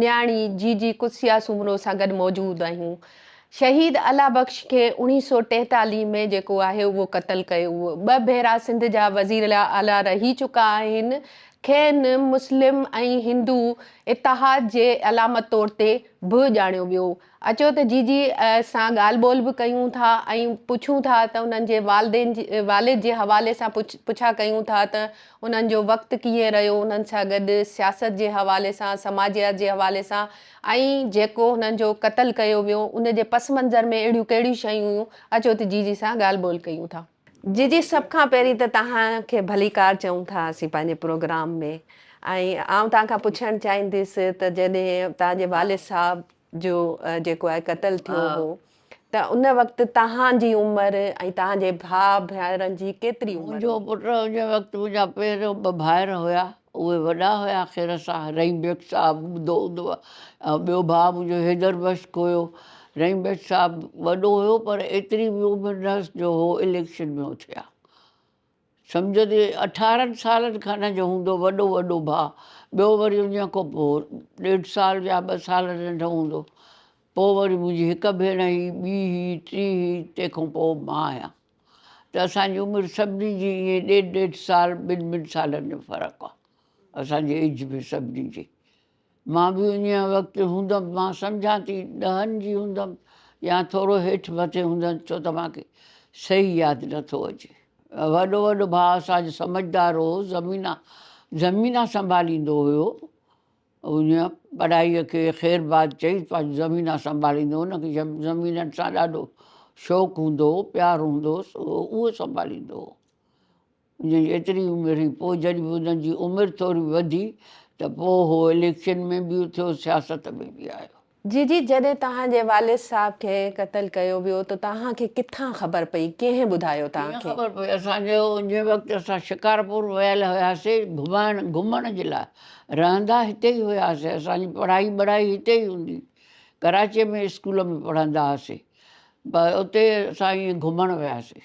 نياڻي جي جي قدسيه سومرو سان گڏ موجود آهيون شهيد الله بخش کي اوڻيهه سؤ ٽيتاليهه ۾ جيڪو آهي اهو قتل ڪيو هو ٻه ڀيرا سنڌ جا وزير اعليٰ رهي چڪا آهن کين مسلم ۽ هندو اتحاد جي علامت طور تي به ڄاڻيو ويو اچو ته جي جي سان ڳالهه ٻولهه به ڪيون ٿا ۽ پڇون ٿا ته انهن جي والدين والد جي حوالي سان پڇا ڪيون ٿا ته انهن جو وقت ڪيئن رهيو انهن سان گڏ سياست جي حوالي سان سماجيات جي حوالي سان ۽ جيڪو هنن جو قتل ڪيو ويو ان جي پس منظر ۾ اهڙيون ڪهڙيون شيون هيون اچو ته جي جي سان ڳالهه ٻولهه ڪيون ٿا. جي جي سڀ کان پهرين ته توهان کي ڀليڪار چئون ٿا اسين پنهنجي پروگرام ۾ ۽ آئون توهان کان پڇڻ چاهينديس ته جڏهن توهان جي والد صاحب جو جيڪو آهي قتل ٿيو هو ته ان وقت توهان جي عمر ۽ توهان جي ڀاء ڀائرن جي ڪيتري عمر هئي؟ منهنجو پٽ ان وقت منهنجا پهريون ٻه ڀائر هيا اهي وڏا هيا خير ساه. رحيم بيگ صاحب ٻڌو هوندو ۽ ٻيو ڀاء منهنجو حيدر بخش هيو. رحيم بيگ صاحب وڏو هيو پر ايتري به عمر نه هيس جو هو اليڪشن ۾ اٿي ها. سمجهندي اٺارهن سالن کن جو هوندو وڏو وڏو ڀاء. ٻيو وري انهيء کان پوء ڏيڍ سال يا ٻه سال ننڍو هوندو. پوء وري منهنجي هڪ ڀيڻ هئي، ٻي هئي، ٽي هئي، تنهن کان پوء مان هيان. ته اسان جي عمر سڀني جي ائين ڏيڍ ڏيڍ سال ٻن ٻن سالن جو فرق آ اسان جي ايج ۾ سڀني جي مان به انهيء وقت هوندم مان سمجهان ٿي ڏهن جي هوندم يا ٿورو هيٺ مٿي هوندم ڇو ته مان کي صحيح ياد نه ٿو اچي وڏو وڏو ڀاء اسان جو سمجهدار هو زمينا زمينا سنڀاليندو هيو هن ٻرائيء کي خير باد چئي پنهنجي زمينه سنڀاليندو هو. هن کي جنهن زمينن سان ڏاڍو شوق هوندو هو، پيار هوندو هوس، اهو اهو سنڀاليندو هو. هن جي ايتري عمر هئي. پوء جڏهن به هن جي عمر ٿوري وڌي ته پوء هو اليڪشن ۾ به اٿيو، سياست ۾ به آيو. جي جي جڏهن توهان جي والد صاحب کي قتل ڪيو ويو ته توهان کي ڪٿان خبر پئي ڪنهن ٻڌايو توهان کي. ڪيئن خبر پئي اسان کي ان وقت اسان شڪارپور ويل هياسي گهمائڻ گهمڻ جي لاء رهندا هتي ئي هياسي اسان جي پڙهائي ٻڙهائي هتي ئي هوندي هئي ڪراچي ۾ اسڪول ۾ پڙهندا هئاسي اتي اسان ائين گهمڻ وياسي.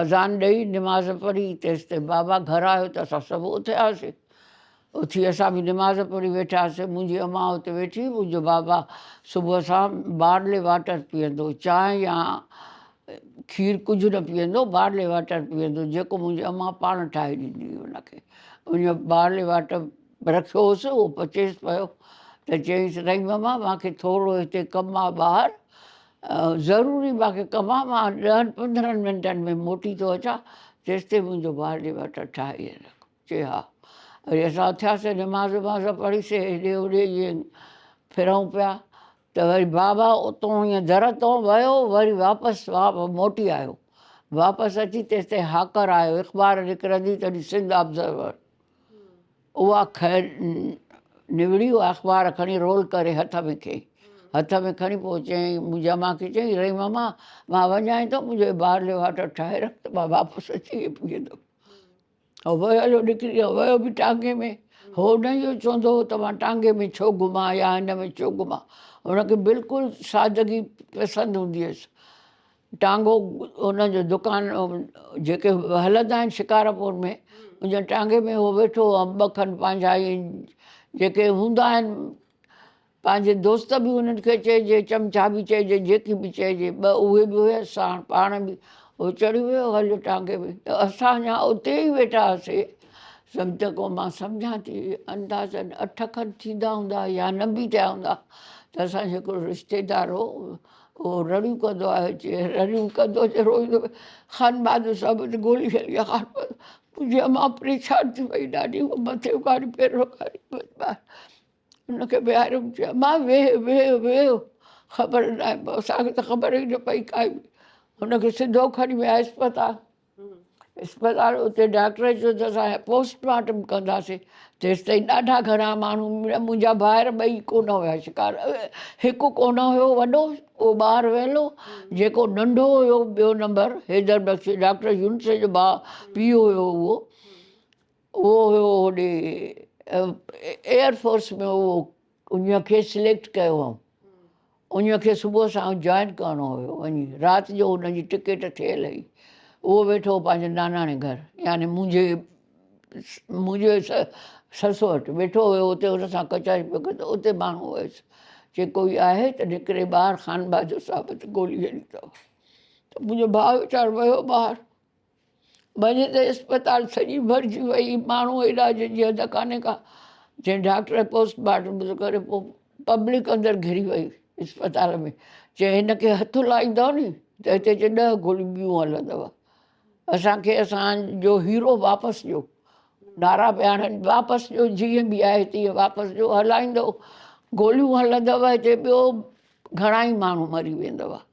آذان ڏئي نماز پڙهي تيستائين بابا گهر آيو ته اسان سڀ اٿياسين اٿي اسان به نماز پڙهي ويٺاسين منهنجي امان اتي ويٺي منهنجو بابا صبح سان بارلي واٽر پيئندو چانهه يا کير ڪجهه نه پيئندو بارلي واٽر پيئندو جيڪو منهنجي امان پاڻ ٺاهي ڏيندي هئي ان کي ان بارلي واٽر رکيو هوس اهو پچيس پيو ته چيائينس رحيم امان مانکي ٿورو هتي ڪم آ ٻاهر ضروري ماکي ڪم آ مان ڏهن پندرهن منٽن ۾ موٽي ٿو اچان تيستائين منهنجو بارلي واٽر ٺاهي رک چي ها وري اسان اٿياسين نماز وماز پڙهي سي هيڏي هوڏي ائين ڦرون پيا ته وري بابا اتون ائين در تون ويو وري واپس موٽي آيو واپس اچي تيستائين هاڪر آيو اخبار نڪرندي تڏهن سنڌ آبزرور اها خير نوڙي اها اخبار کڻي رول ڪري هٿ ۾ کي هٿ ۾ کڻي پوء چيائين منهنجا مان کي چيائين رئي ماما مان وڃائين ٿو منهنجو بارلي واٽر ٺاهي رک ته مان واپس اچي هي پيئندم هو ويو هليو نڪري ويو ويو به ٽانگي ۾ هو نه اهو چوندو هو ته مان ٽانگي ۾ ڇو گهمان يا هن ۾ ڇو گهمان هن کي بلڪل سادگي پسند هوندي هيس ٽانگو هن جو دڪان جيڪي هلندا آهن شڪارپور ۾ ان جي ٽانگي ۾ هو ويٺو هو ۽ ٻه کن پنهنجا اهي جيڪي هوندا آهن پنهنجي دوست به انهن کي چئجي چمچا به چئجي جيڪي به چئجي ٻه اهي به هيس ساڻ پاڻ به هو چڙهي ويو هليو ٽانگي ۾ ته اسان اڃا اتي ئي ويٺا هئاسي سمجهه ڪو مان سمجهان ٿي اندازن اٺ کن ٿيندا هوندا يا نه به ٿيا هوندا ته اسان جو هڪڙو رشتيدار هو هو رڙيون ڪندو آهي اچي رڙيون ڪندو اچي روئيندو خانبهادر صاحب اچي گولي کڻي خانبهادر منهنجي امان پريشان ٿي وئي ڏاڍي هو مٿي اگهاڙي پير رکاري ان کي ويهاريو چي امان ويهه ويهه ويهه خبر نه آهي اسان کي ته خبر ئي نه پئي ڪائي هن کي سڌو کڻي ويا اسپتال اسپتال اتي ڊاڪٽر چيو ته اسان پوسٽ مارٽم ڪنداسين تيستائين ڏاڍا گهڻا ماڻهو منهنجا ڀائر ٻئي ڪونه هيا شڪار هڪ ڪونه هيو وڏو اهو ٻاهر ويلو جيڪو ننڍو هيو ٻيو نمبر حيدر بخش ڊاڪٽر يونس جو ڀاء پيو هيو اهو اهو هيو هوڏي ايئر فورس ۾ اهو انهيء کي سليڪٽ ڪيو هئم. انهيء کي صبح سان جوائن ڪرڻو هيو وڃي. رات جو هن جي ٽڪيٽ ٺهيل هئي. اهو ويٺو هو پنهنجي ناناڻي گهر يعني منهنجي منهنجي سس وٽ ويٺو هيو اتي هن سان ڪچهري پيو ڪري ته اتي ماڻهو هيس چي ڪوئي آهي ته نڪري ٻاهر خانبهادر صاحب تي گولي هنئي اٿئون ته منهنجو ڀاء ويچارو ويو ٻاهر. ڀڃ تي اسپتال سڄي ڀرجي وئي، ماڻهو علاج جي حد ڪانهي ڪا، جنهن ڊاڪٽر پوسٽ مارٽم به نه ڪريو، پوء پبلڪ اندر گهري وئي اسپتال ۾، چيائين هن کي هٿ لائيندؤ ني ته هتي جي ڏهه گوليون ٻيون هلندؤ، اسان کي اسان جو هيرو واپس ڏيو، نعرا پيا هڻن واپس ڏيو، جيئن به آهي تيئن واپس ڏيو، هلائيندؤ گوليون هلندؤ، هتي ٻيو گهڻائي ماڻهو مري ويندؤ.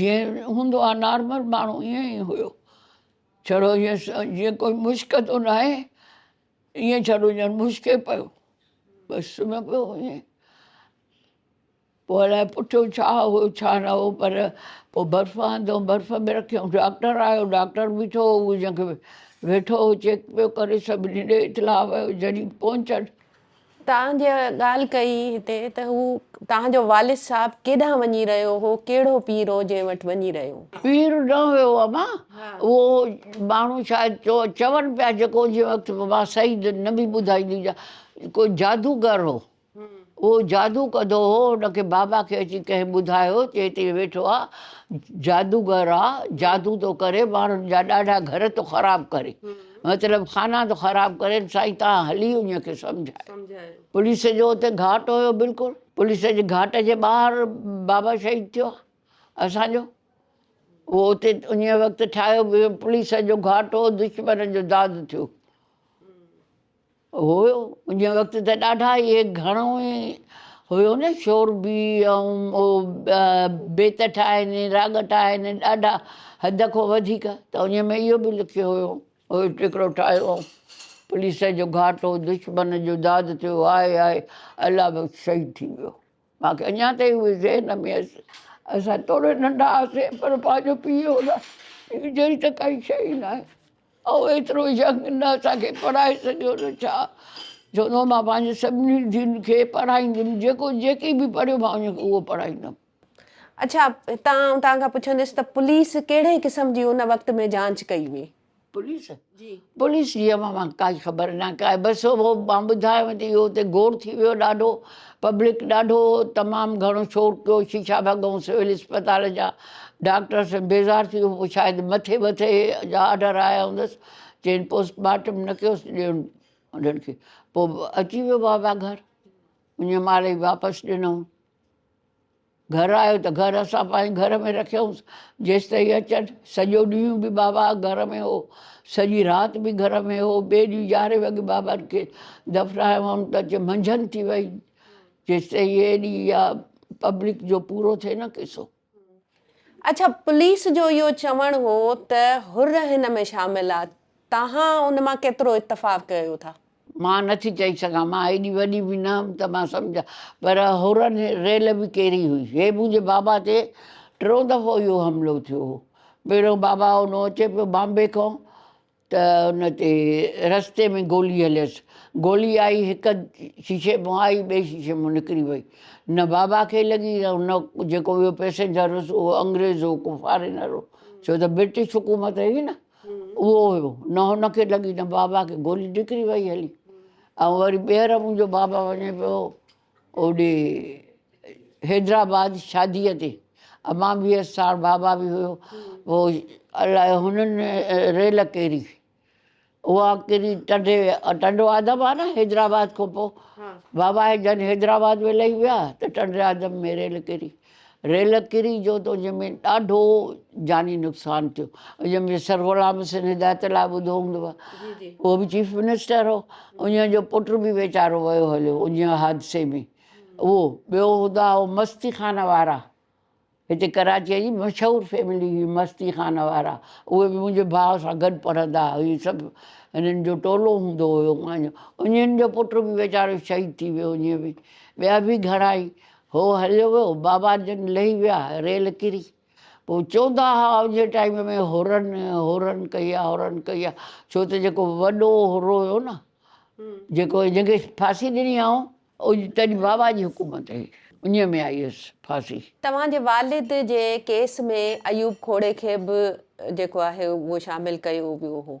جيئن هوندو آ نارمل ماڻهو ائين ئي هيو ڇڙو جيئن ڪوئي مشڪ ٿو ناهي ائين ڇڙو ڄڻ مشڪي پيو بس سمهي پيو ائين پوء الائي پٺيو ڇا هو ڇا نه هو پر پوء برف آندو برف ۾ رکيو ڊاڪٽر آيو ڊاڪٽر بيٺو هو جنهن کي ويٺو هو چيڪ پيو ڪري سڀ ڏي اطلاع ويو جڏهن پهچن توهان جا ڳالهه ڪئي هتي ته هو توهان جو والد صاحب ڪيڏانهن وڃي رهيو هو ڪهڙو پير هو جنهن وٽ وڃي رهيو. پير نه هيو اما اهو ماڻهو شايد چون پيا جيڪو جنهن وقت مان صحيح نه به ٻڌائيندي هجان ڪو جادوگر هو اهو جادو ڪندو هو ان کي بابا کي اچي ڪنهن ٻڌايو چي هتي ويٺو آ جادوگر آ جادو ٿو ڪري ماڻهن جا ڏاڍا گهر ٿو خراب ڪري مطلب خانه ٿو خراب ڪرين سائين تان هلي ان کي سمجهايو پوليس جو اتي گهاٽ هيو بلڪل پوليس جي گهاٽ جي ٻاهر بابا شهيد ٿيو اسان جو اهو اتي ان وقت ٺاهيو پوليس جو گهاٽ هو دشمن جو داد ٿيو هو ان وقت ته ڏاڍا اهي گهڻو ئي هيو نه شوربي ۽ بيت ٺاهين راڳ ٺاهين ڏاڍا حد کان وڌيڪ ته ان ۾ اهو به لکيو هيو هو ٽڪرو ٺاهيو هو پوليس جو گهاٽو دشمن جو داد ٿيو آء آء الله بخش شهيد ٿي ويو. مان کي اڃا تائين اهي ذهن ۾ اچي اسان توڙي ننڍا هئاسين پر پنهنجو پيء هن جهڙي ته ڪائي شيء ئي ناهي اهو ايترو ينگ نه اسان کي پڙهائي سگهيو نه ڇا چوندو هو مان پنهنجي سڀني ڌيئن کي پڙهائينديم جيڪو جيڪي به پڙهيو مان ان کي اهو پڙهائيندم. اڇا هتان آئون توهان کان پڇنديس ته پوليس ڪهڙي قسم جي ان وقت ۾ جانچ ڪئي هئي؟ پوليس جي پوليس جي اوهان مان ڪائي خبر نه ڪائي بس هو مان ٻڌايو ته اهو ته گوڙ ٿي ويو ڏاڍو پبلڪ ڏاڍو تمام گهڻو شور ڪيو شيشا ڀڳون سول اسپتال جا ڊاڪٽر سين بيزار ٿي ويو پوء شايد مٿي مٿي جا آرڊر آيا هوندس چين پوسٽ مارٽم نه ڪيوس ڏيون انهن کي پوء اچي ويو بابا گهر انهي مال ئي واپس ڏنو گهر آيو ته گهر اسان پنهنجي گهر ۾ رکيائونس جيستائين اچن. سڄو ڏينهن به بابا گهر ۾ هو. سڄي رات به گهر ۾ هو. ٻئي ڏينهن يارهين وڳي بابا کي دفنايو هئم ته اچي منجهند ٿي وئي. جيستائين ايڏي اها پبلڪ جو پورو ٿئي نه قصو. اڇا پوليس جو اهو چوڻ هو ته حر هن ۾ شامل آ تهان ان مان ڪيترو اتفاق ڪيو ٿا؟ مان نه ٿي چئي سگهان، مان ايڏي وڏي به نه هئم ته مان سمجهان، پر هورن ريل به ڪيري هئي. هي منهنجي بابا تي ٽيون دفعو اهو حملو ٿيو هو. پهريون بابا اونو اچي پيو بامبي کان ته ان تي رستي ۾ گولي هليس. گولي آئي هڪ شيشي مان آئي ٻئي شيشي مان نڪري وئي. نه بابا کي لڳي نه هن جيڪو ٻيو پئسينجر هوس اهو انگريز هو ڪو فارينر هو ڇو ته برٽش حڪومت هئي نه. اهو هيو نه هن کي لڳي نه بابا کي گولي نڪري وئي هلي ۽ وري ٻيهر منهنجو بابا وڃي پيو اوڏي حيدرآباد شاديء تي امان به هيس ساڻ بابا به هيو پوء الاء هنن ريل ڪيري اها ڪيري ٽنڊي ٽنڊو آدم آ نه حيدرآباد کان پوء بابا جڏهن حيدرآباد ۾ لهي ويا ته ٽنڊي آدم ۾ ريل ڪيري ريل ڪري جو ته ان ۾ ڏاڍو جاني نقصان ٿيو ان ۾ سر غلام حسين هدايت لاء ٻڌو هوندو اهو به چيف منسٽر هو ان جو پٽ به ويچارو ويو هليو ان حادثي ۾ اهو ٻيو هدا هو مستي خانه وارا هتي ڪراچيء جي مشهور فيملي هئي مستي خانه وارا اهي به منهنجي ڀاء سان گڏ پڙهندا هئا هي سڀ هنن جو ٽولو هوندو هيو انهن جو پٽ به ويچارو شهيد ٿي ويو ان ۾ ٻيا به گهڻا ئي هو هليو ويو، بابا جن لهي ويا، ريل ڪري. پوء چوندا ها اوهانجي ٽائيم ۾ هورن هورن ڪئي آ هورن ڪئي آ ڇو ته جيڪو وڏو هورو هيو نه جيڪو جنهن کي ڦاسي ڏني آئون اڄ تڏهن بابا جي حڪومت هئي انهي ۾ آئي هيس ڦاسي. توهان جي والد جي ڪيس ۾ ايوب کوڙي کي به جيڪو آهي اهو شامل ڪيو ويو هو.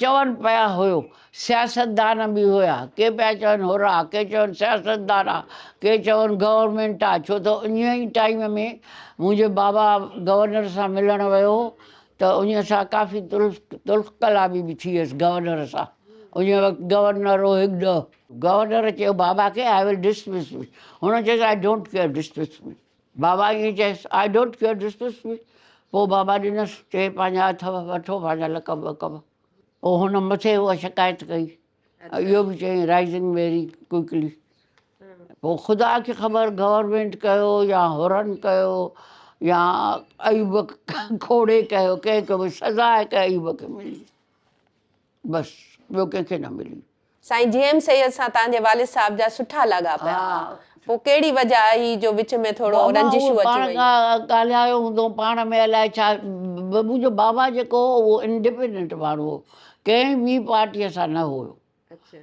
چون پيا هيو سياستدان به هيا ڪي پيا چون هورا ڪي چون سياستدان آ ڪي چون گورنمينٽ آ ڇو ته انهي ئي ٽائيم ۾ منهنجو بابا گورنر سان ملڻ ويو هو ته انهي سان ڪافي تلخ ڪلامي به ٿي هيس گورنر سان انهي وقت گورنر هو هڪ ڏهه گورنر چيو بابا کي آء ول ڊسمس مي هن چيس I don't care dismiss me بابا ائين چيس، I don't care dismiss me پوء بابا ڏنس، چي پنهنجا اٿو، وٺو پنهنجا لقب وقب پوء هن مٿي اها شڪايت ڪئي ۽ اهو به چيائين رائزنگ ويري ڪوئڪلي پوء خدا کي خبر گورنمينٽ ڪيو يا هورن ڪيو يا ايوب کي کي کي سزا هڪ ايوب کي ملي. بس ٻيو ڪنهن کي نه ملي. سائين جي ايم سيد سان تهان جي والد صاحب جا سٺا لاڳاپيا ها پو ڪهڙي وجه آهي جو وچ ۾ ٿورو رنجشون اچي ويون. بابا اهو پاڻ ڳالهايو هوندو پاڻ ۾ الائي ڇا منهنجو بابا جيڪو هو اهو انڊيپينڊنٽ ماڻهو هو ڪنهن ٻي پارٽي سان نه هو.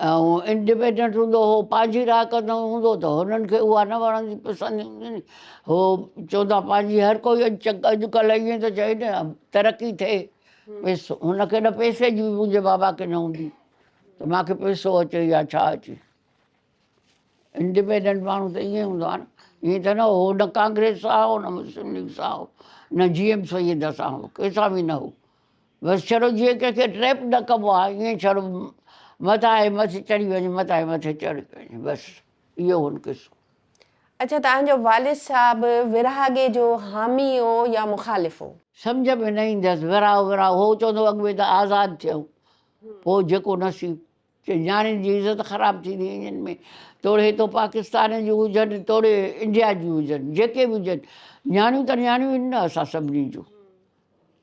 هو انڊپينڊنٽ هوندو هو، پنهنجي راء ڪندو هوندو ته هنن کي اها نه وڻندي پسندي هوندي ني، هو چوندا پنهنجي هر ڪوئي اڄڪلهه ائين ٿو چئي نه ترقي ٿئي پيسو هن کي نه پيسي جي به منهنجي بابا کي نه هوندي ته مان کي پيسو اچي يا ڇا اچي انڊپينڊنٽ ماڻهو ته ائين هوندو آهي نه ائين ته نه هو نه ڪانگريس سان هو نه مسلم ليگ سان هو نه جي ايم سيد سان هو ڪنهن سان به نه هو بس ڇڏو جيئن ڪنهن کي ٽريپ نه ڪبو آهي ائين ڇڏو متان هي مٿي چڙهي وڃي متان هي مٿي چڙهي وڃي بس اهو هن قصو. اڇا توهان جو والد صاحب ورهاڳي جو حامي هو يا مخالف هو؟ سمجهه ۾ نه ايندس ورهاء ورهاء هو چوندو اڳ ۾ ته آزاد ٿيو پوء جيڪو نصيب چي نياڻين جي عزت خراب ٿيندي انهن ۾ توڙي تو پاڪستان جون هجن توڙي انڊيا جون هجن جيڪي به هجن نياڻيون ته نياڻيون آهن نه اسان سڀني جون.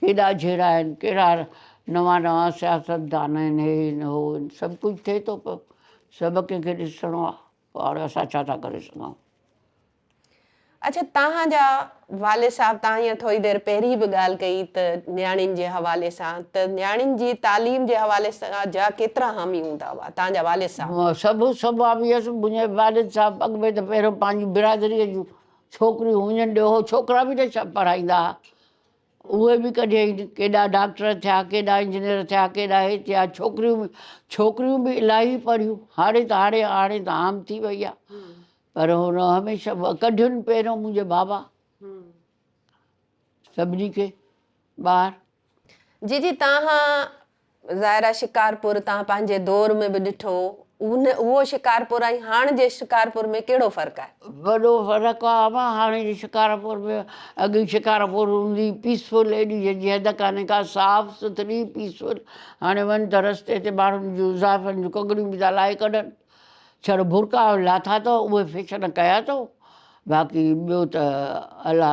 ڪيڏا جهيڙا آهن، ڪهڙا نوان نوان سياستدان آهن، هي آهن، هو آهن، سڀ ڪجهه ٿئي ٿو پيو، سڀ ڪنهن کي ڏسڻو آهي، پوء هاڻي اسان ڇا ٿا ڪري سگهون؟ اڇا توهان جا والد صاحب، توهان هينئر ٿوري دير پهرين به ڳالهه ڪئي ته نياڻين جي حوالي سان ته نياڻين جي تعليم جي حوالي سان جا ڪيترا حامي هوندا هئا، توهان جا والد صاحب؟ سڀ سڀ حامي هئس، منهنجا والد صاحب اڳ ۾ ته پهريون پنهنجي برادريء جون ڇوڪريون هيون ڏوهه ڇوڪرا به نه ڇا پڙهائيندا ها اهي به ڪڍي ڪيڏا ڊاڪٽر ٿيا ڪيڏا انجنيئر ٿيا ڪيڏا هي ٿيا ڇوڪريون به ڇوڪريون به الاهي پڙهيون هاڻي ته هاڻي هاڻي ته عام ٿي وئي آهي پر هن هميشه ڪڍيون پهريون منهنجي بابا سڀني کي ٻار جي جي تان ظاهر آهي شڪارپور تان پنهنجي دور ۾ به ڏٺو اهو شڪارپور ۽ هاڻ جي شڪارپور ۾ ڪهڙو فرق آهي؟ وڏو فرق آهي اما هاڻ جي شڪارپور ۾ اڳ جي شڪارپور هوندي پيسفل ايڏي جنهنجي حد ڪانهي ڪا صاف سٿري پيسفل هاڻي وڃ ته رستي تي ماڻهن جون زائفن جون ڪڳڙيون به ٿا لاهي ڪڍن ڇڙ برقعا لاٿا اٿئو اهي فيشن ڪيا اٿئو باقي ٻيو ته الله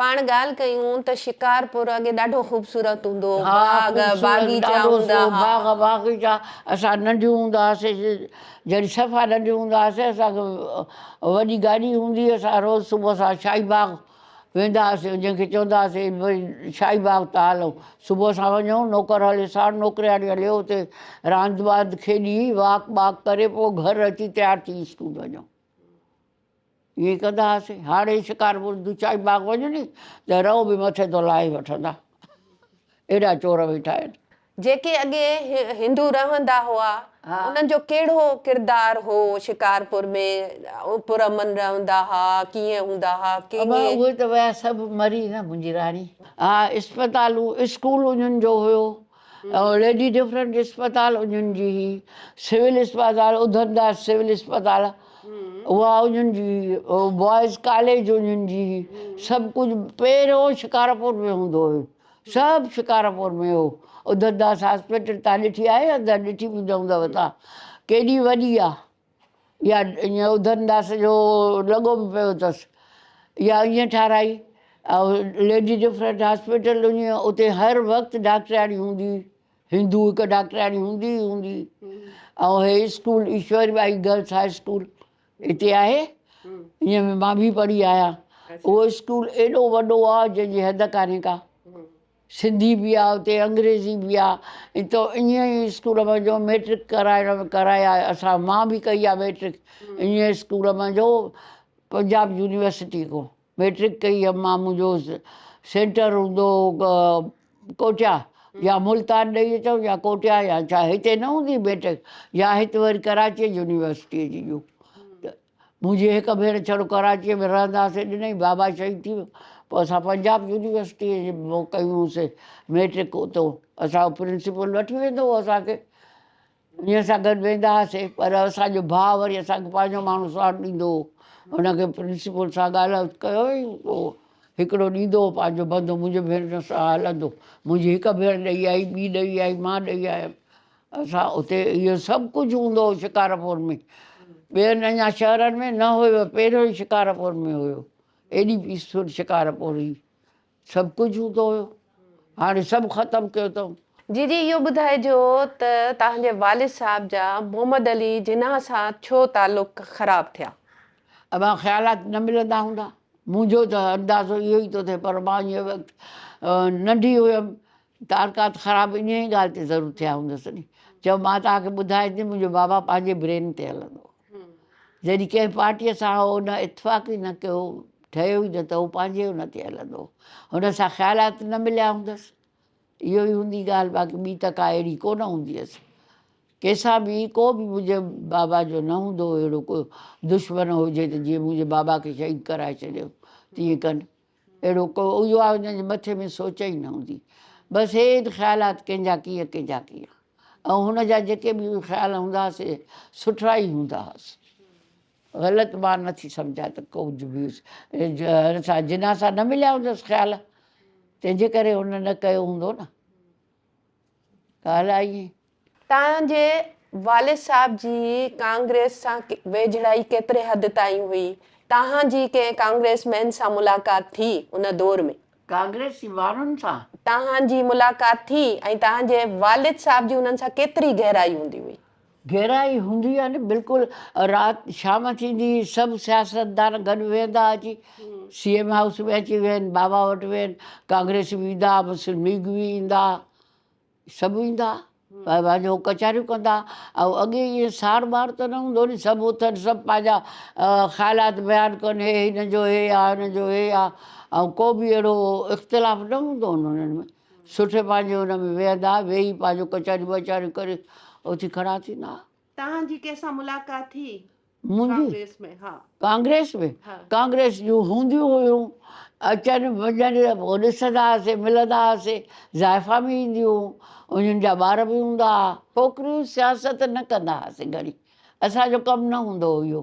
پاڻ ڳالهه ڪيون ته شڪارپور اڳي ڏاڍو خوبصورت هوندو هو، باغ باغيچا هوندا ها. باغ باغيچا اسان ننڍيون هوندا هئاسين جڏهن صفا ننڍيون هوندا هئاسين اسان کي وڏي گاڏي هوندي هئي اسان روز صبح سان شاهي باغ ويندا هئاسين جنهن کي چوندا هئاسين ڀئي شاهي باغ تان هلون صبح سان وڃون نوڪر هلي ساڻ نوڪرياڻي هلي اتي راند واند کيڏي واڪ ٻاڪ ڪري پوء گهر اچي تيار ٿي اسڪول وڃون. ائين ڪندا هئاسين. هاڙهي شڪارپور جي چائي باغ وڃ ني ته رئو به مٿي تان لاهي وٺندا. ايڏا چور ويٺا آهن. جيڪي اڳي هندو رهندا هئا انهن جو ڪهڙو ڪردار هو شڪارپور ۾ پر امن رهندا ها ڪيئن هوندا ها ڪهڙي. ابا اهي ته ويا سڀ مري نه منهنجي راڻي. ها اسپتالون اسڪول انهن جو هيو. ليڊي ڊفرنٽ اسپتال اڃن جي هئي، سول اسپتال اڌم داس سول اسپتال اها اڃن جي هئي، بوائز ڪاليج اڃن جي هئي، سڀ ڪجهه پهريون شڪارپور ۾ هوندو هيو، سڀ شڪارپور ۾ هو، اڌم داس هاسپيٽل تان ڏٺي آهي ڏٺي به نه هوندؤ تان ڪيڏي وڏي آ. يا ايئن اڌن داس جو لڳو به پيو اٿس يا ايئن ٺاراهي ليڊي ڊفرنٽ هاسپيٽل اڃي اتي هر وقت ڊاڪٽرياڻي هوندي هندو هڪ ڊاڪٽرياڻي هوندي ئي هوندي ۽ هي school Ishwari Bai girls high school هتي آهي ائين مان به پڙهي آيا اهو اسڪول ايڏو وڏو آهي جنهن جي حد ڪانهي ڪا سنڌي به آ اتي انگريزي به آ ۽ تو انهيء اسڪول مان جو ميٽرڪ ڪرائڻ ۾ ڪرائي آيو اسان مان به ڪئي آ ميٽرڪ انهيء اسڪول مان جو پنجاب يونيورسٽي کون ميٽرڪ ڪئي هيم مان منهنجو سينٽر هوندو ڪوٽيا يا ملتان ڏئي اچو يا ڪوٽيا يا چاهي هتي نه هوندي ميٽرڪ يا هت وري ڪراچي يونيورسٽي جي جو منهنجي هڪ ڀيڻ ڇڙو ڪراچيء ۾ رهندا سي ڏنئي بابا شهيد ٿي ويو پوء اسان پنجاب يونيورسٽيء جي ۾ ڪيون هون سي ميٽرڪ اتو اسان جو پرنسپل وٺي ويندو هو اسان کي انهيء سان گڏ ويندا هئاسي پر اسان جو ڀاء وري اسان کي پنهنجو ماڻهو ساڻ ڏيندو هو ان کي پرنسپل سان ڳالهه ڪيو هئي پوء هڪڙو ڏيندو هو پنهنجو بندو منهنجي ڀيڻ سان هلندو منهنجي هڪ ڀيڻ ڏئي آئي ٻي ڏئي آئي مان ڏئي آيم اسان اتي اهو سڀ ڪجهه هوندو هو شڪارپور ۾ ٻين اڃا شهرن ۾ نه هيو پهريون ئي شڪارپور ۾ هيو ايڏي پيسفل شڪارپور هئي سڀ ڪجهه هوندو هيو هاڻي سڀ ختم ڪيو اٿم جي جي اهو ٻڌائجو ته توهان جي والد صاحب جا محمد علي جناح سان ڇو تعلق خراب ٿيا؟ اوهان خيالات نه ملندا هوندا منهنجو ته اندازو اهو ئي ٿو ٿئي پر مان ان وقت ننڍي هيم تعلقات خراب انهيء ڳالهه تي ضرور ٿيا هوندس ني جو مان توهان کي ٻڌائي ته منهنجو بابا پنهنجي برين تي هلندو هو جڏهن ڪنهن پارٽيء سان هو ان اتفاق ئي نه ڪيو ٺهيو ئي نه ته هو پنهنجي ان تي هلندو هو هن سان خيالات نه مليا هوندس اهو ئي هوندي ڳالهه باقي ٻي ته ڪا اهڙي ڪو نه هوندي هيس ڪنهنسان به ڪو به منهنجي بابا جو نه هوندو هو اهڙو ڪو دشمن هجي ته جيئن منهنجي بابا کي شهيد ڪرائي ڇڏيو تيئن ڪن اهڙو ڪو اهو آهي جنهن جي مٿي ۾ سوچ ئي نه هوندي. بس هي ايت خيالات ڪنهن جا ڪيئن ڪنهن جا ڪيئن ۽ هن جا جيڪي به خيال هوندا ها سي سٺڙا ئي هوندا ها سي غلط مان نه ٿي سمجهان ته ڪجهه به هن سان جناح سان نه مليا هوندس خيال تنهن جي ڪري هن نه ڪيو هوندو نه ڳالهه آهي ائين. تان جي والد صاحب جي ڪانگريس سان ويجهڙائي ڪيتري حد تائين هئي؟ تان جي ڪنهن ڪانگريس مين سان ملاقات ٿي ان دور ۾؟ ڪانگريسي ماڻهن سان؟ تان جي ملاقات ٿي ۽ تان جي والد صاحب جي انهن سان ڪيتري گهرائي هوندي هئي؟ گهرائي هوندي هئي نه بلڪل رات شام ٿيندي هئي سڀ سياستدان گڏ ويهندا اچي سي ايم هائوس ۾ اچي ويهن بابا وٽ ويهن ڪانگريسي ويندا مسلم ليگ وي ايندا ها. سڀ ايندا پنهنجون ڪچهريون ڪندا ۽ اڳي ائين ساڙ ٻاڙ ته نه هوندو ني سڀ اٿن سڀ پنهنجا خيالات بيان ڪن هي هن جو هي آ هن جو هي آ ۽ ڪو به اهڙو اختلاف نه هوندو هن انهن ۾ سٺي پنهنجي ان ۾ ويهندا ويهي پنهنجو ڪچهريون وچهريون ڪري اٿي کڙا ٿيندا توهان جي ڪنهن سان ملاقات ٿي ڪانگريس ۾؟ ها. ڪانگريس ۾؟ ها. ڪانگريس جون هونديون هيون، اچن وڃن پوء ڏسندا هئاسين، ملندا هئاسين، زائفا به اينديون هيون، انهن جا ٻار به هوندا ها. ڇوڪريون سياست نه ڪندا هئاسين گهڻي، اسان جو ڪم نه هوندو هو اهو.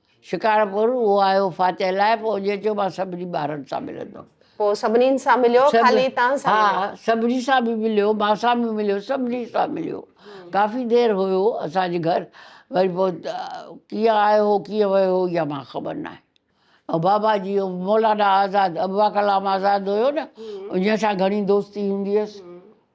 شڪارپور هو آيو فاتح لاء، پوء اجهي چيو مان سڀني ٻارن سان ملندم. پوء سڀنين سان مليو، سڀ خالي تان سان ها مليو. سڀني سان به مليو، مان سان به مليو، سڀني سان مليو. ڪافي دير هيو اسان جي گهر، وري پوء ڪيئن آيو هو ڪيئن ويو هو اها مان کي خبر ناهي. ۽ بابا جي ۽ مولانا آزاد، ابواڪلام آزاد هيو نه، انهيء سان گهڻي دوستي هوندي هيس.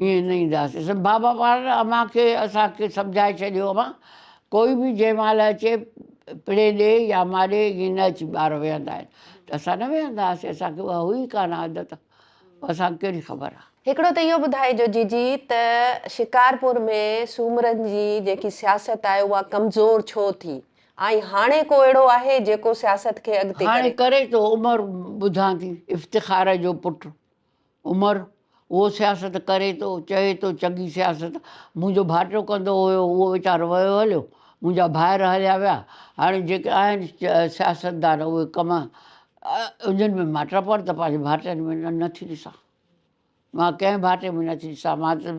ائين نه اينداسين. بابا پاڻ امان کي اسان کي سمجهائي ڇڏيو امان ڪوئي به جنهن مهل اچي پڙي ڏي يا ماري ائين نه اچي ٻار ويهندا آهن ته اسان نه ويهندا هئاسين اسان کي اها هئي ئي ڪانه عادت اسان کي ڪهڙي خبر آ. هڪڙو ته اهو ٻڌائجو جيجي ته شڪارپور ۾ سومرن جي جيڪي سياست آهي اها ڪمزور ڇو ٿي ۽ هاڻي ڪو اهڙو آهي جيڪو سياست کي اڳتي ڪري. هاڻي ڪري ٿو عمر ٻڌان ٿي افتخار جو پٽ. عمر، اهو سياست ڪري ٿو، چئي ٿو چڱي سياست، منهنجو ڀائٽو ڪندو هيو، اهو ويچارو ويو هليو، منهنجا ڀائر هليا ويا، هاڻي جيڪي آهن سياستدان اهي ڪم انهن ۾ مان ٽپڻ ته پنهنجي ڀائٽن ۾ نه ٿي ڏسان، مان ڪنهن ڀائٽي ۾ نه ٿي ڏسان، مان ته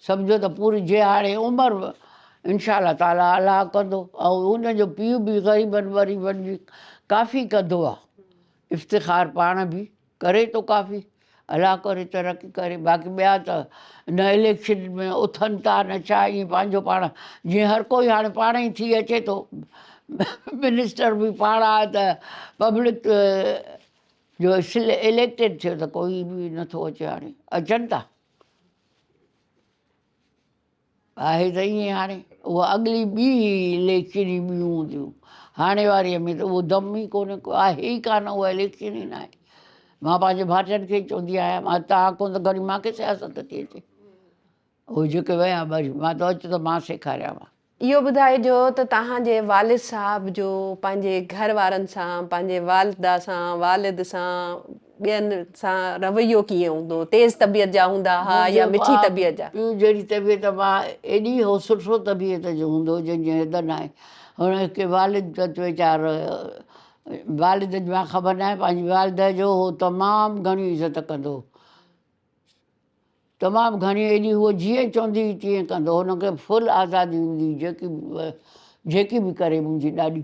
سمجهو ته پوري جي هاڻي عمر به انشاء الله تعاليٰ الله ڪندو ۽ ان جو پيء به غريبن وريبن جي ڪافي ڪندو آهي افتخار پاڻ به ڪري ٿو ڪافي الله ڪري ترقي ڪري باقي ٻيا ته هن اليڪشن ۾ اٿن ٿا نه ڇا ائين پنهنجو پاڻ جيئن هر ڪوئي هاڻي پاڻ ئي ٿي اچي ٿو منسٽر به پاڻ آهي ته پبلڪ جو اليڪٽيڊ ٿيو ته ڪوئي به نٿو اچي هاڻي اچن ٿا آهي ته ائين هاڻي اها اڳلي ٻي هي اليڪشن ئي ٻيون هونديون هاڻي واريء ۾ ته اهو دم ئي ڪونهي ڪو آهي ئي ڪانه اها اليڪشن ئي ناهي مان پنهنجي ڀائٽين کي چوندي آهيان مان تان ڪون ته گھڙي مان کي سياست ٿي اچي اهو جيڪي ويا ٻئي مان تو اچ ته مان سيکاريانو. اهو ٻڌائجو ته توهان جي والد صاحب جو پنهنجي گھر وارن سان پنهنجي والده سان والد سان ٻين سان رويو ڪيئن هوندو؟ تيز طبيعت جا هوندا ها يا مٺي طبيعت جا؟ پيء جهڙي طبيعت ماء ايڏي هو سٺو طبيعت جو هوندو جنهن جي حد ناهي. هن کي والد پت ويچار والد جي مان خبر ناهي پنهنجي والده جو هو تمام گهڻي عزت ڪندو هو. تمام گهڻي ايڏي هو جيئن چوندي هئي تيئن ڪندو هو. هن کي فل آزادي هوندي هئي جيڪي به جيڪي به ڪري منهنجي ڏاڏي.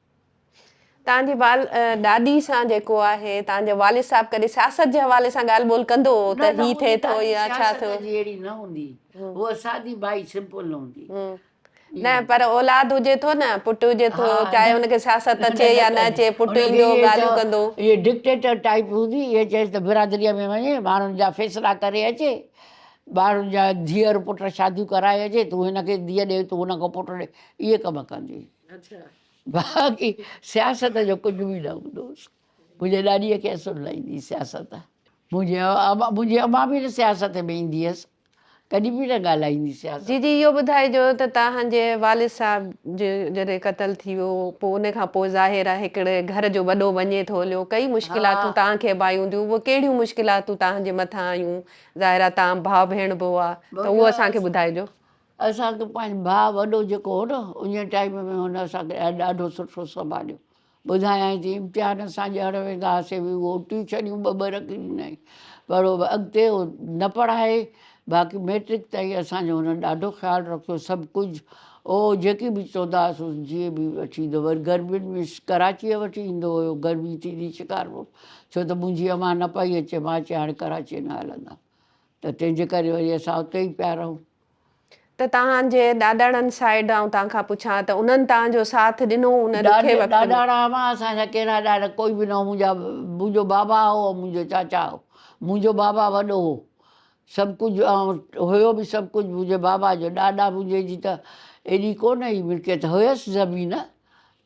تان جي وال ڏاڏي سان جيڪو آهي تان جو والد صاحب ڪڏهن سياست جي حوالي سان ڳالهه ٻولهه ڪندو هو ته هي ٿئي ٿو يا ڇا ٿيو. سياست جي اهڙي نه هوندي هوء سادي بائي سمپل هوندي. نه پر اولاد هجي ٿو نه پٽ هجي ٿو چاهي ان کي سياست اچي يا نه اچي پٽ ايندو ڳالهيون ڪندو. هيء ڊڪٽيٽر ٽائيپ هوندي هيء چيس ته برادريء ۾ وڃي ماڻهن جا فيصلا ڪري اچي ٻارن جا ڌيئر پٽ شاديون ڪرائي اچي تون هن کي ڌيئ ڏي تون هن کي پٽ ڏي اهي ڪم ڪندي هئي. باقي سياست جو ڪجهه به نه هوندوس منهنجي ڏاڏيء کي اسل نه ايندي سياست منهنجي منهنجي اما به نه سياست ۾ ايندي هيس ڪڏهن به نه ڳالهائيندي سياست. جي جي اهو ٻڌائجو ته توهان جي والد صاحب جڏهن قتل ٿي ويو پوء ان کان پوء ظاهر آهي هڪڙي گهر جو وڏو وڃي ٿو هليو ڪئي مشڪلاتون توهان کي به آيون هونديون اهي ڪهڙيون مشڪلاتون توهان جي مٿان آيون ظاهر آهي توهان ڀاء ڀيڻ به هئا ته اهو اسان کي ٻڌائجو. اسان کي پنهنجو ڀاء وڏو جيڪو هو نه انهيء ٽائيم ۾ هن اسان کي ڏاڍو سٺو سنڀاليو. ٻڌايائين تي امتحان اسان ڏيڻ ويندا هئاسين به اهو ٽيوشنيون ٻه ٻه رکي ڏنائين پر اڳتي هو نه پڙهائي باقي مئٽرڪ تائين اسان جو هن ڏاڍو خيال رکيو سڀ ڪجهه او جيڪي به چوندا هئاسون جيئن به وٺي ايندو وري گرمين ۾ ڪراچيء وٺي ايندو هيو گرمي ٿيندي شڪارپور ڇو ته منهنجي امان نه پئي اچي مان چيان هاڻي ڪراچيء نه هلندم ته تنهنجي ڪري وري اسان اتي ئي پيا رهون ته توهان جي ڏاڏاڻن سائيڊ آئون توهان کان پڇان ته انهن توهان جو ساٿ ڏنو ان ڏکي وقت ۾؟ ڏاڏاڻا امان اسان جا ڪهڙا ڏاڏا ڪوئي به نه هو منهنجا منهنجو بابا هو ۽ منهنجو چاچا هو منهنجو بابا وڏو هو سڀ ڪجهه ۽ هيو به سڀ ڪجهه منهنجي بابا جو ڏاڏا منهنجي جي ته ايڏي ڪونه ئي ملڪيت هيس زمين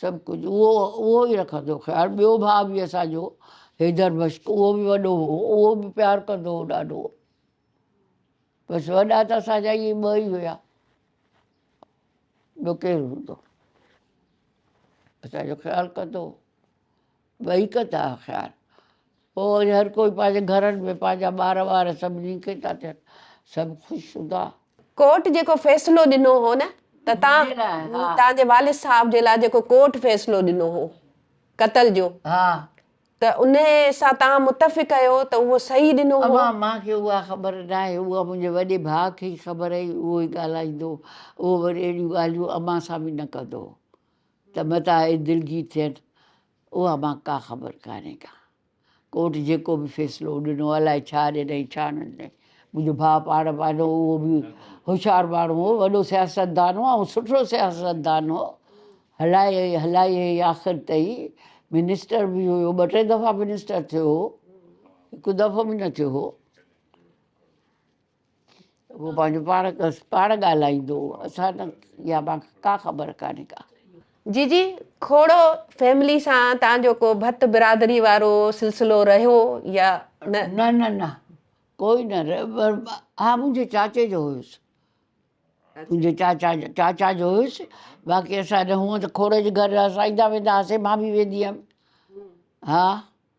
سڀ ڪجهه اهو اهو ئي رکندو خيال. ٻيو ڀاء به اسان جو حيدر مشڪ اهو به وڏو هو اهو به پيار ڪندو هو ڏاڍو. بس وڏا ته اسان جا اهي ٻه ئي هيا ٻيو ڪير هوندو اسان جو خيال ڪندو هو. ٻئي ڪا ٿا خيال پوء وري هر ڪوئي پنهنجي گهرن ۾ پنهنجا ٻار وار سڀ نيڪي ٿا ٿين سڀ خوش هوندا. ڪورٽ جيڪو فيصلو ڏنو هو نه ته تنهنجي لاء ها. تنهن جي والد صاحب جي لاء جيڪو ڪورٽ فيصلو ڏنو هو قتل جو ها. ته انهي سان تنهن متفق اهيو ته اهو صحيح ڏنو هو. امان مان کي اها خبر ناهي اها منهنجي وڏي ڀاء کي ئي خبر هئي اهو ئي ڳالهائيندو هو اهو وري اهڙيون ڳالهيون امان سان به نه ڪندو هو ته متان اي دلگير ٿين، اها مان ڪا خبر ڪانهي ڪا. ڪورٽ جيڪو به فيصلو ڏنو، الاء ڇا ڏنائين ڇا نه ڏنائين. منهنجو ڀاء پاڻ پنهنجو اهو به هوشيار ماڻهو هو، وڏو سياستدان هو ۽ سٺو سياستدان هو. هلائي ۽ هلائي ۽ آخر تائين منسٽر به هيو، ٻه ٽي دفعا منسٽر ٿيو هو، هڪ دفعو به نه ٿيو هو. اهو پنهنجو پاڻ پاڻ ڳالهائيندو اسان نه يا مان ڪا خبر ڪانهي ڪا. جي جي کوڙو فيملي سان تان جو ڪو ڀت برادري وارو سلسلو رهيو يا نه. نه نه نه ڪوئي نه ها منهنجي چاچي جو هيس منهنجي چاچا چاچا جو هيس باقي اسان نه هونئن ته کوڙي جي گهر اسان ايندا ويندا هاسي مان به ويندي هيم ها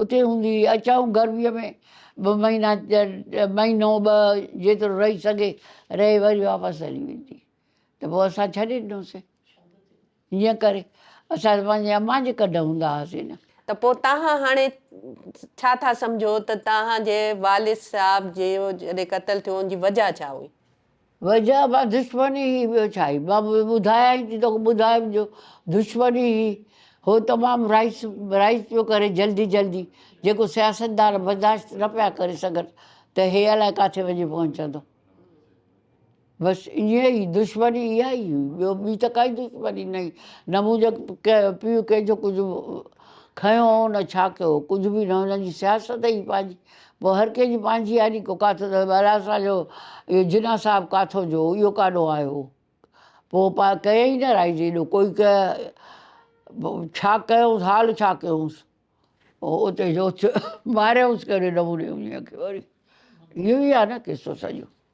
اتي هوندي هئي. اچائون گرميء ۾ به مهينا مهينو ٻه جيترو رهي سگهي رهي وري واپس هلي ويندي ته پوء اسان ڇڏي ڏنوسين. هيئن ڪري اسان پنهنجي امان جي ڪڍ هوندا هئاسين نه. ته پوء توهان هاڻي ڇا ٿا سمجهو ته توهان جي والد صاحب جو جڏهن قتل ٿيو ان جي وجهه ڇا هئي؟ وجهه به دشمني هئي ٻيو ڇا هئي مان ٻڌايائين ٿي توکي ٻڌايم جو دشمني هئي هو تمام رائس رائس پيو ڪري جلدي جلدي جيڪو سياستدان برداشت نه پيا ڪري سگهن ته هي الائي ڪاٿي وڃي پهچندو بس ائين ئي دشمني اها ئي هئي ٻيو ٻي ته ڪائي دشمني نه نه منهنجو پيء ڪنهنجو ڪجهه کنيو هو نه ڇا ڪيو ڪجهه به نه هن جي سياست ئي پنهنجي پوء هر ڪنهن جي پنهنجي آڏي ڪو ڪاٿو ته الا اسان جو اهو جناح صاحب ڪاٿو جو اهو ڪاڏو آيو پوء پا ڪيئي نه رائج ايڏو ڪوئي ڪه ڇا ڪيونس حال ڇا ڪيونس پوء اتي جو ماريونس ڪهڙي نموني وڃي اکي وري اهو ئي آهي نه قصو سڄو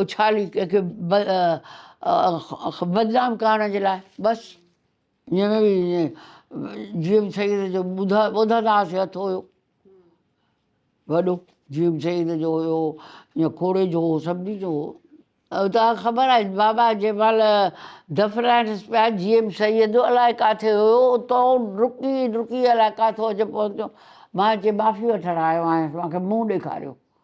اڇالي ڪنهن کي بدنام ڪرڻ جي لاء بس جي ايم سيد جو ٻڌندا هئاسين هٿ هيو وڏو جي ايم سيد جو هيو يا کوڙي جو هو سڀني جو هو توهان خبر آهي بابا جنهن مهل دفرائنس پيا جي ايم سيد الائي ڪاٿي هيو اتو ڊڪي ڊڪي الائي ڪاٿو اچي پهتو مان هتي معافي وٺڻ آيو آهيان مون کي منهن ڏيکاريو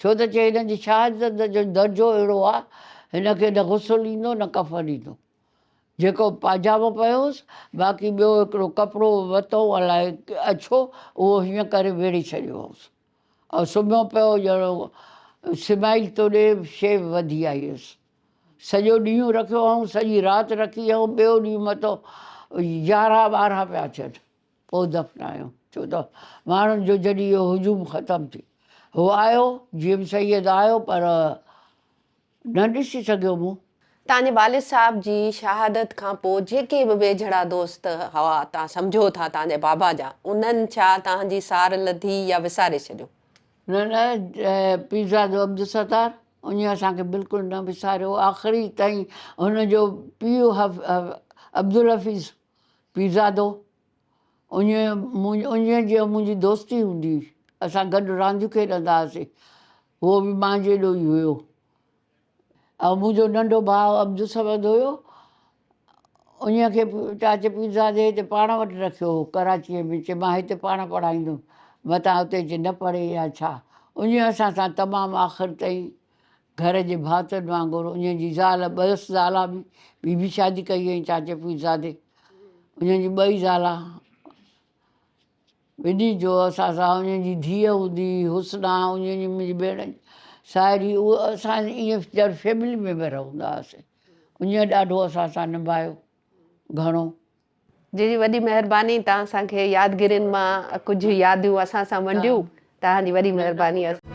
ڇو ته چي هن جي شهادت جو درجو اهڙو آ، هن کي نه غسل ايندو نه ڪفن ايندو. جيڪو پاجامو پيو هوس، باقي ٻيو هڪڙو ڪپڙو وتو الاء اڇو، اهو هيئن ڪري ويڙهي ڇڏيو هوس ۽ سمهيو پيو ڄڻ سمائيل توڏي شيء وڌي آئي هيس. سڄو ڏينهن رکيو هئائون، سڄي رات رکي هئائون، ٻيو ڏينهن متو يارهن ٻارهن پيا ٿين. پوء دفنايو ڇو ته ماڻهن جو جڏهن اهو هجوم ختم ٿي هو آيو جي ايم سيد آيو پر نه ڏسي سگهيو مون. تان جي والد صاحب جي شهادت کان پوء جيڪي به ويجهڙا دوست هوا تان سمجهو ٿا تان جي بابا جا انهن ڇا تان جي سار لڌي يا وساري ڇڏيو؟ نه نه پيرزادو عبدالستار انهي اسان کي بلڪل نه وساريو آخري تائين هن جو پيء عبدالحفيظ پيرزادو، انهيء جيان منهنجي دوستي هوندي هئي. اسان گڏ رانديون کيڏندا هئاسين. هو به مان جيڏو ئي هيو. ۽ منهنجو ننڍو ڀاء عبدالصمد هيو. انهيء کي چاچي پيرزادي هتي پاڻ وٽ رکيو هو، ڪراچيء ۾. چي مان هتي پاڻ پڙهائيندم. متان اتي اچي نه پڙهي يا ڇا. انهيء اسان سان تمام آخر تائين گهر جي ڀاتن وانگر انهن جي زال ٻئس زالا به ٻي به شادي ڪئي هئي چاچي پيرزادي انهن جي ٻئي زالا وڏي جو اسان سان انهن جي ڌيء هوندي هئي حسنا انهن جي منهنجي ڀيڻ ساهري اهو اسان ائين ڄڻ فيملي ميمبر هوندا هئاسين انهن ڏاڍو اسان سان نڀايو گهڻو جي جي وڏي مهرباني تان اسان کي يادگرين مان ڪجهه ياديون اسان سان ونڊيون تان جي وڏي مهرباني اسان.